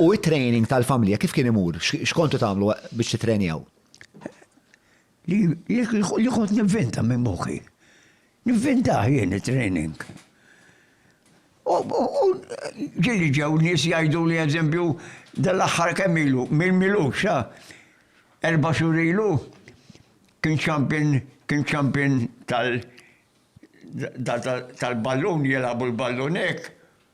U it-training tal-familja kif kien imur? X'kontu tagħmlu biex titrenjaw? Li kont nivvinta minn moħħi. Nivvinta jien it-training. U ġili ġew nies jgħidu li eżempju dal-aħħar kemm ilu, minn milux, erba' xhur ilu, kien champion, kien champion tal-ballun, jilagħbu l-ballun hekk,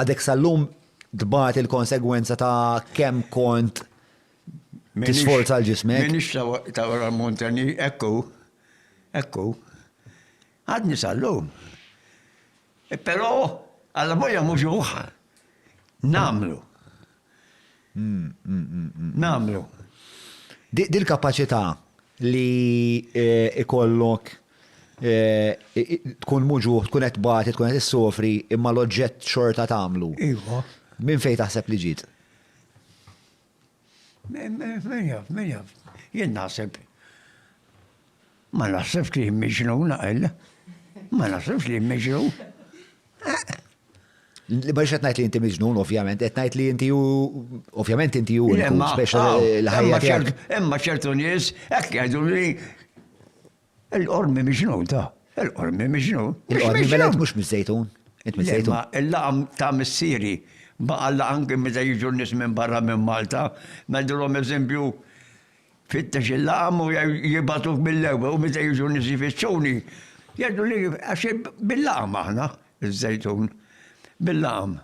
Għadek sal-lum tbati l-konsegwenza ta' kemm kont tisforza l-ġismek? Minix ta' wara l-montani, ekku, ekku. Għadni sal-lum. Pero, għalla boja muġuħ, namlu. nagħmlu. Dil-kapaċità li jkollok tkun muġugħ, tkun qed tbati, tkun qed issofri, imma l-oġġett xorta tagħmlu. Iva. Minn fejn taħseb li ġiet? Min jaf, min jaf. Jien naħseb. Ma naħsibx li miġnun għal. Ma naħsibx li miġnun. Li ma xed li inti miġnun, ovvjament, qed ngħid li inti ovvjament inti hu speċa l-ħajja. Imma ċertu nies hekk jgħidu li l-qormi miġnun ta' l-qormi miġnun. Il-qormi mela mhux miż-żejtun. Il-laqam ta' missieri baqa' laqam kien meta jiġu nies minn barra minn Malta, ngħidulhom eżempju Fittex il-laqam u jibgħatuk mill-ewwel u meta jiġu nies jfittxuni, jgħidu li għax bil-laqam aħna, iż-Żejtun. Bil-laqam.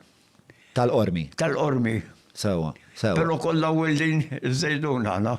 Tal-Qormi. Tal-Qormi. Sewwa, sewwa. Però kollha wildin iż-Żejtun aħna.